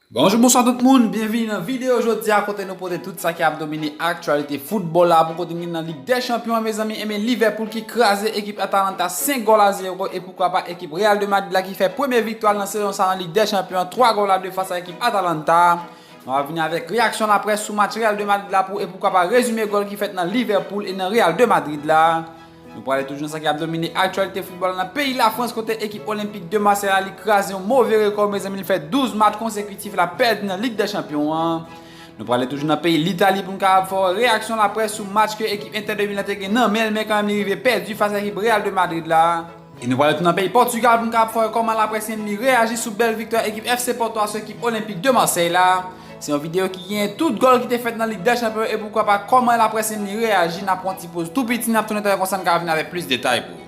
Bonjou bonswa tout moun, byenvini nan videyo jodi a kote nou pote tout sa ki ap domine aktyalite foutbòl la pou kote nou gen nan Lig dè Chanpyon an mezanmi enben Liverpool ki kraze ekip Atalanta 5 gòl a 0 e poukwa pa ekip Real de Madrid la ki fè premye viktwa l nan sezon sa nan Lig dè Chanpyon an 3 gòl a 2 fas a ekip Atalanta nou ap vini avèk reyaksyon laprès sou match Real de Madrid la pou e poukwa pa rezime gòl ki fèt nan Liverpool e nan Real de Madrid la. Nou prale toujou nan sa ki ap domine aktyalite foutbòl la nan peyi Lafrans kote ekip Olympique de Marseille la li kraze yon move rekò mezanmi li fè 12 match konsekitif la pèdi nan Lig dè Chanpyon an. Nou prale toujou nan peyi Litali pou nou kapab fè w reyaksyon laprès sou match ke ekip Inter de Milan te gen nan men l men kanmenm li rive pèdi fas a ekip Real de Madrid la. E nou prale tounen an peyi Pòtugal pou nou kapab fè wè kòman laprès enmi reyaji sou bèl viktwa ekip FC Porto a sou ekip Olympique de Marseille la. Se yon videyo ki genyen tout gòl ki te fèt nan Lig dè Chanpyon e poukwa pa kòman laprès enmi reyaji, nap pran yon ti poz tou piti nap tounen talè konsa nou ka vini avèk plis detay pou ou.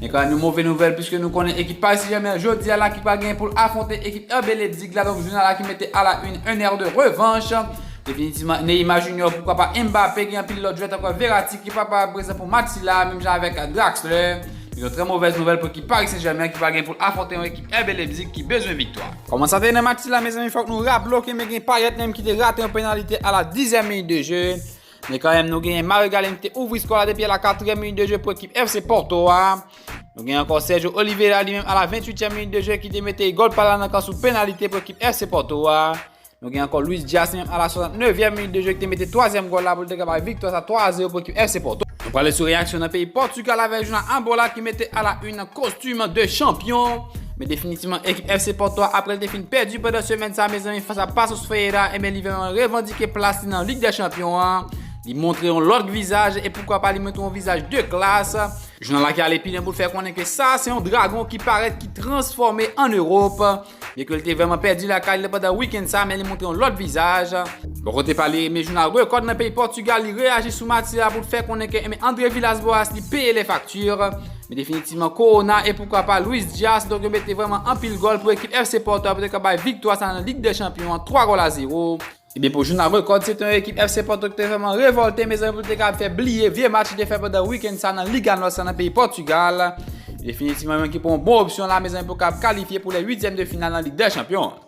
Gen kòmèm yon move nouvèl piske nou konnen ekip Paris Saint-Germain jodi a la ki pral genyen pou l afwonte ekip RB Leipzig la donk jounal la ki mete a la une un air de revanche definitivman Neymar Junior poukwa pa Mbappé gen anpil lòt jwè tankou Verratti ki pa pral prezan pou match sila menm jan avèk Draxler donk yon trè movèz nouvèl pou ekip Paris Saint-Germain ki pral genyen pou l afwonte yon ekip RB Leipzig ki bezwen viktwa. Kòman sa te ye nan match sila mezanmi fòk nou raple w ke men gen Payet menm ki te rate yon penalite a la dizyèm minit de jeu. Men kanmèm nou genyen Mario Galen ki te ouvri skò la depi a la 4è minit de jwe pou ekip FC Porto a. Nou genyen ankò Sergio Oliveira li menm a la 28è minit de jwe ki te mete gòl pa la nan kan sou penalite pou ekip FC Porto a. Nou genyen ankò Luis Diaz li menm a la 69è minit de jwe ki te mete 3èm gòl la pou li te kapab viktwa sa 3 a 0 pou ekip FC Porto. Nou prale sou reyaksyon nan peyi Portugal avèk jounan Ambola ki mete a la 1 nan kostum de chanpyon. Men definitivman ekip FC Porto a aprè l te fin pèdi pandan semèn sa mezanmi fas a Paços Ferreira enben li vreman revandike plas li nan Ligue des Champions an. Li montre yon lòt vizaj e poukwa pa li montre yon vizaj de klas. Jounal la ki ale pi lwen pou l fè konnen ke sa se yon dragon ki parèt ki transfòme an Ewòp. Byen ke l te vreman pèdi lakay li pandan wikenn sa men li montre yon lòt vizaj. Bò kote pa li enben jounal Record nan peyi Portugal li reyaji sou matyè a pou l fè konnen ke enben Andre Villas Boas li peye lè fakti. Men definitivman Corona e poukwa pa Luis Diaz donk yo mete vrèman anpil gòl pou ekip FC Porto a pou te kapab bay viktwa sa nan Lig dè Chanpyon an 3 gòl a 0. Ebyen pou jounal Record se te yon ekip FC Porto ki te vrèman revòlte mezanmi pou te kapab fè bliye vye match yo te fè pandan wikenn sa nan Liga Nòs la nan peyi Pòtugal. Definitivman yon ekip yon bon opsyon la mezanmi pou kapab kalifye pou lè uityèm de final nan Lig dè Chanpyon an.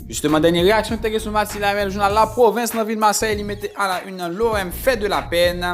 Jisteman dènye reyaksyon ki te gen sou match sila a men jounal La Provence nan vil Marseille li mete a la une nan L'OM fait de la peine.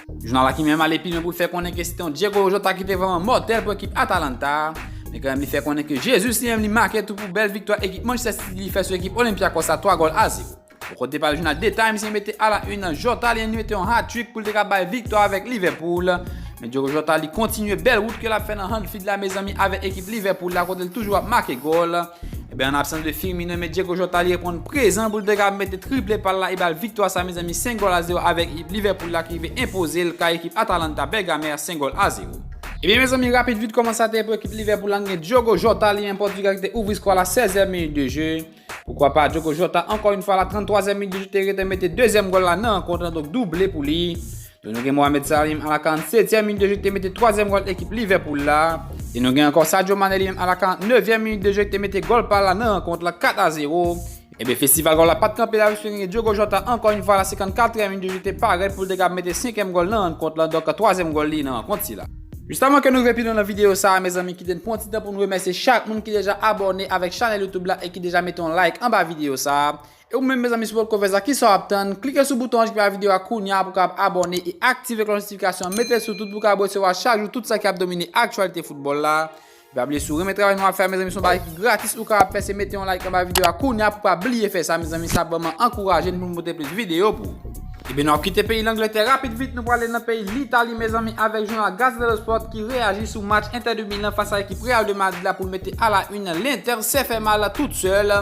Jounal la ki menm ale pi lwen pou l fè konnen ke sete yon Diego Jota ki te vrèman mòtèl pou ekip Atalanta a, men kanmenm li fè konnen ke Jesus li menm li make tou pou bèl viktwa ekip Manchester City li fè sou ekip Olympiakos a 3 gòl a 0. Bò kote pa l jounal The Times li mete a la une Jota li menm li mete yon hat-trick pou l te ka bay viktwa avèk Liverpool, men Diego Jota li kontinye bèl wout ke l ap fè nan Anfield la mezanmi avèk ekip Liverpool la kote l toujou ap make gòl. Ebyen an absans de Firmino men Diego Jota li reponn prezan pou l te ka mete triple pa l la e bal viktwa sa mezanmi 5 gòl a 0 avèk ekip Liverpool la ki rive enpoze l kay ekip Atalanta Bergame a 5 gòl a 0. Ebyen mezanmi rapid vit kòman sa te ye pou ekip Liverpool la nou gen Diogo Jota li an Pòtigal ki te ouvri skò la 16 èm minit de je poukwa pa Diogo Jota ankò yn fwa la 33 èm minit de je te rete mete dezyèm gòl la nan rankont lan donk double pou li Lè nou gen Mohamed Salim a la 47 èm minit de jeu ki te mete 3 èm gòl ekip Liverpool la, e nou gen ankò Sadio Mane li menm a la 49 èm minit de jeu ki te mete gòl pa l la nan rankont la 4 a 0, ebyen festival gòl la pat kanpe la piske nou gen Diogo Jota ankò yon fwa a la 54 èm minit de jeu ki te parèt pou l te kab mete 5 èm gòl nan rankont la donk 3 èm gòl li nan rankont sila. Jis avan ke nou rive pi lwen nan videyo sa a mezanmi kite n pran yon ti tan pou n remèsye chak moun ki deja abòne avèk chanèl youtube la e ki deja mete yon like anba videyo sa a, E ou menm mezanmi si potko fè sa kisa w ap tann klike sou bouton anj ki pa video a kounya pou w kapab abòne e aktive klòch notifikasyon an mete l sou tout pou w kapab resevwa chak jou tout sa ki ap domine aktyalite foutbòl la e pa bliye si w renmen travay nou ap fè a mezanmi se yon bagay ki gratis ou kapab fè se mete yon like anba video a kounya pou w pa bliye fè sa mezanmi sa ap vrèman ankouraje n pou nou pote plis video pou ou. Ebyen nou ap kite peyi Langlètè rapid vit nou prale nan peyi Litali mezanmi avèk jounal Gazzetta dello Sport ki reyaji sou match Inter de Milan fas a ekip Real de Madrid la pou l mete a la une L'Inter se fè mal tout sèl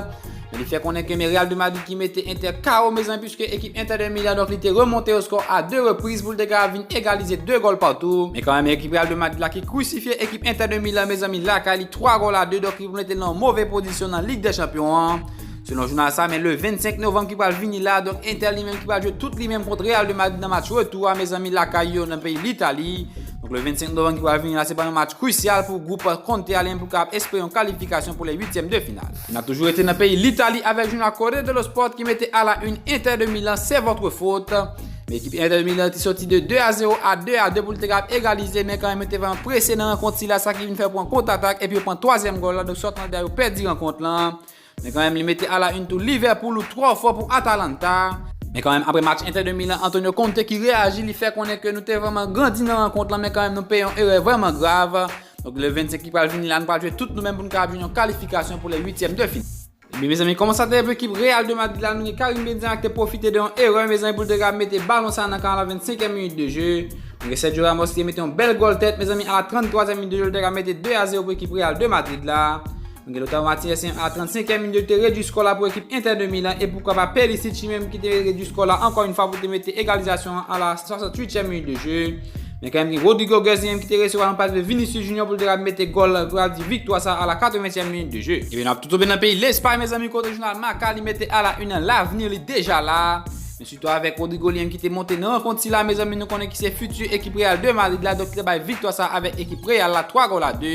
Men li fè konnen ke men Real de Madrid ki mete Inter KO mezanmi puiske ekip Inter de Milan donk li te remonte yo skò a 2 repriz pou l te ka vin egalize 2 gòl patou. Men kanmèm ekip Real de Madrid la ki krusifye ekip Inter de Milan mezanmi lakay li 3 gòl a 2 donk li mete l nan yon move pozisyon nan Lig dè Chanpyon an. Selon jounal sa men le 25 novanm ki pral vini la donk Inter li menm ki pral jwe tout li menm kont Real de Madrid nan match retou a mezanmi lakay yo nan peyi Litali. Donk le 25 novanm ki pral vini la se pral yon match krusyal pou gwoup Conte a li menm pou l kapab espere yon kalifikasyon pou lè uityèm de final. N ap toujou rete nan peyi Litali avèk jou nan Corriere dello Sport ki mete a la une Inter de Milan c'est votre faute. Men ekip Inter de Milan te soti de 2 a 0 a 2 a 2 pou l te kap egalize men kanmenm yo te vreman prese nan rankont sila sa ki vin fè pran kont atak epi yo pran twazyèm gòl la donk sòt anlè yo pèdi rankont la men kanmenm li mete a la une tou Liverpool ou twò fò pou Atalanta. Men kanmenm apre match Inter de Milan Antonio Conte ki reyaji li fè konnen ke nou te vreman grandi nan rankont la men kanmenm nou peye yon erè vreman grav. Donk le 25 ki pral vini la, nou pral jwe tout nou menm pou nou kapab jwenn yon kalifikasyon pou le 8 tièm de final. Ebyen mezanmi koman sa teye pou ekip Real de Madrid la nou gen Karim Benzema ki te pwofite de yon erè mezanmi pou l te kapab mete balon sa nan kan a la 25 èm minit de je. Nou gen Sergio Ramos ki te mete yon bèl gòl tèt mezanmi a la 33 èm minit de je l te ka mete 2 a 0 pou ekip Real de Madrid la. Miguel Lautaro Martinez se a 35 e minit te redwi skò la pou ekip Inter de Milan e poukwa pa Perisic li menm ki te redwi skò la ankò yon fwa pou te mete egalizasyon an a la 68 e minit de jeu. Men kanmenm gen Rodrigo Goes li menm ki te resevwa yon pas de Vinicius Junior pou l te ka mete gòl pou ta di viktwa sa a la 80 e minit de jeu. Ebyen nap toutoube nan peyi Lespay mezanmi kote jounal Marca li mete a la une an lavni li deja la. Viktwa avèk Rodrigo Liang ki te monte nan rankont sila mezanmi nou konnen ki se futur ekip Real de Madrid la donk te bay viktwa sa avèk ekip Real la 3 gòl a 2.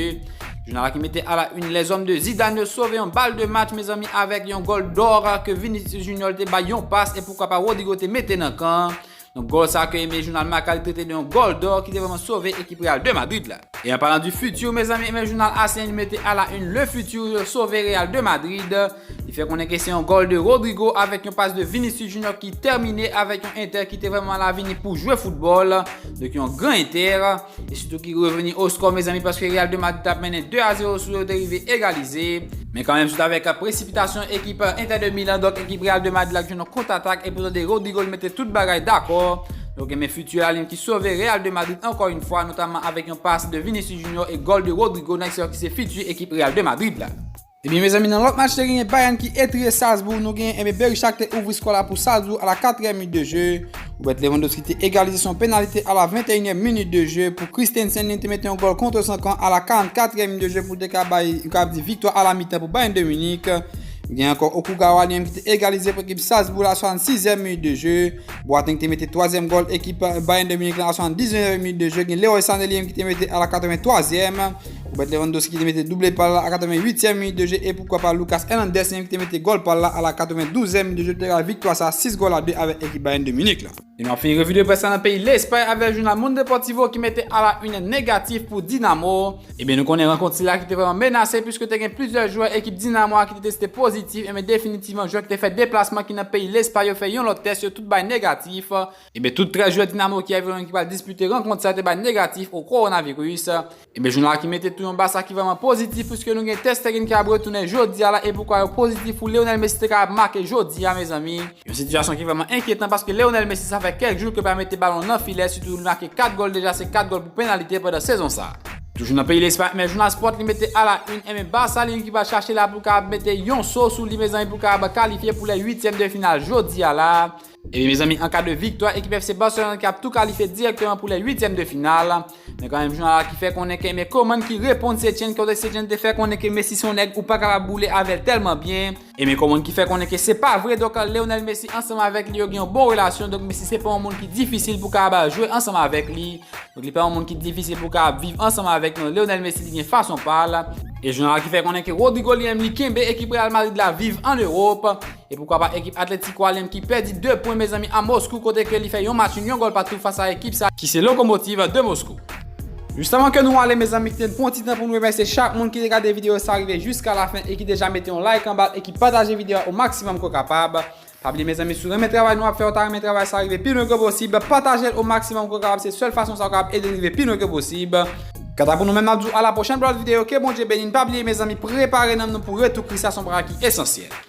Jounal la ki mete a la une les hommes de Zidane yo sove yon bal de match mezanmi avèk yon gòl d'or ke Vinicius Junior te bay yon pas e poukwa pa Rodrigo te mete nan kan. Donk gòl sa ke enben jounal Marca li trete de yon gòl d'or ki te vrèman sove ekip Real de Madrid la. E an palan du futur mezanmi enben jounal As lan li mete a la une le futur yo sove Real de Madrid. Li fè konnen ke se yon gòl de Rodrygo avèk yon pas de Vinicius Junior ki tèmine avèk yon Inter ki te vrèman la vini pou jwe foutbòl, donk yon gran Inter, e sitou ki reveni o skò mezanmi paske Real de Madrid tap mennen 2 a 0 sou yo te rive egalize. Men kanmenm se t avèk presipitasyon ekip Inter de Milan donk ekip Real de Madrid la k jwenn yon kontratak e pou tande Rodrygo li mete tout bagay dakò, donk men fiti la li menm ki sove Real de Madrid ankò yn fwa notamman avèk yon pas de Vinicius Junior e gòl de Rodrygo nan ekseyon ki se fiti ekip Real de Madrid la. Ebyen mezanmi nan lòt match te genyen Bayern ki etriye Salzbourg nou genyen ebyen Berisha ki te ouvri skò la pou Salzbourg a la 4 è minit de je Robert Lewandowski te egalize son penalite a la 21 è minit de je pou Christensen li te mete yon gòl kontre san kan a la 44 è minit de je pou te ka bay nou ka di viktwa a la mitan pou Bayern de Munich gen ankò Okugawa li menm ki te egalize pou ekip Salzbourg la 66 è minit de je Boateng te mete 3 zièm gòl ekip Bayern de Munich la a 79 è minit de je gen Leroy Sané li menm ki te mete a la 83 è Robert Lewandowski ki te mete double pal la a 88e minit de je e poukwa pa Lucas Hernandez menm ki te mete gol pal la a la 92e minit de je te ral viktwa sa 6 gol a 2 avèk ekip Bayern de Munich la. E nou ap fini revi de près la nan peyi Lespay avèk jounal Mundo Deportivo ki mete a la une negatif pou Dinamo. Ebyen nou konnen rankont sila ki te vrèman menase puiske te gen plizyè jwè ekip Dinamo a ki te teste pozitif ebyen definitivman jwè ki te fè deplasman ki nan peyi Lespay yo fè yon lòt tès yo tout bay negatif. Ebyen tout 13 jwè Dinamo Kiev yo menm ki pral dispite rankont sa te bay negatif o Coronavirus. Ebyen jounal la ki mete tou yon Barça ki vrèman pozitif puiske nou gen Ter Stegen ki ap retounen jodia la e poukwa yo pozitif pou Lionel Messi te ka ap make jodia mezanmi. Yon sitiyasyon ki vrèman enkyetan paske Lionel Messi sa fè kèk jou ke pa mete balon nan filè sitou li make 4 gòl deja se 4 gòl pou penalite pandan sezon sa. Toujou nan peyi Lespay ebyen jounal Sport li mete a la une ebyen Barça li menm ki pral chache la pou ka ap mete yon so sou li mezanmi pou ka ap kalifye pou lè uityèm de final jodia la. Ebyen mezanmi an ka de viktwa ekip FC Barcelone ki ap tou kalifye dirèkteman pou lè 8 tièm de final. Men kan menm jounal la ki fè konnen ke men koman ki reponn Setien kote Setien te fè konnen ke Messi se yon nèg ou pa kapab boule avèl tèlman byen. E men koman ki fè konnen ke se pa vre donk Lionel Messi ansanm avèk li yo gen yon bon relasyon donk Messi se pa yon moun ki difisil pou kapab al jwe ansanm avèk li. Donk li pa yon moun ki difisil pou kapab viv ansanm avèk non Lionel Messi li gen fason pal. E jounal la ki fè konnen ke Rodrygo li menm li kenbe ekip Real Madrid la viv an Ewop. E poukwa pa ekip Atlético Alem ki pèdi 2 pwen mezanmi a Moskou kote ke li fè yon match yon gòl patou fas a ekip sa ki se Lokomotiv de Moskou. Jis avan ke nou ale mezanmi kite n pran yon ti tan pou n remèsye chak moun ki te gade videyo sa rive jiska lafen e ki deja mete yon like anba l e ki pataje videyo a o maksimòm ke w kapab. Pa bliye mezanmi si w renmen travay nou ap fè ou ta renmen travay sa rive pi lwen ke posib pataje l o maksimòm ke w kapab se sèl fason sa ou kapab ede n rive pi lwen ke posib. Kanta pou nou menm n ap di w a la pwochèn pou lòt videyo ke Bondye beni n pa bliye mezanmi prepare nanm nou pou retou Kris la son bagay ki esansyèl.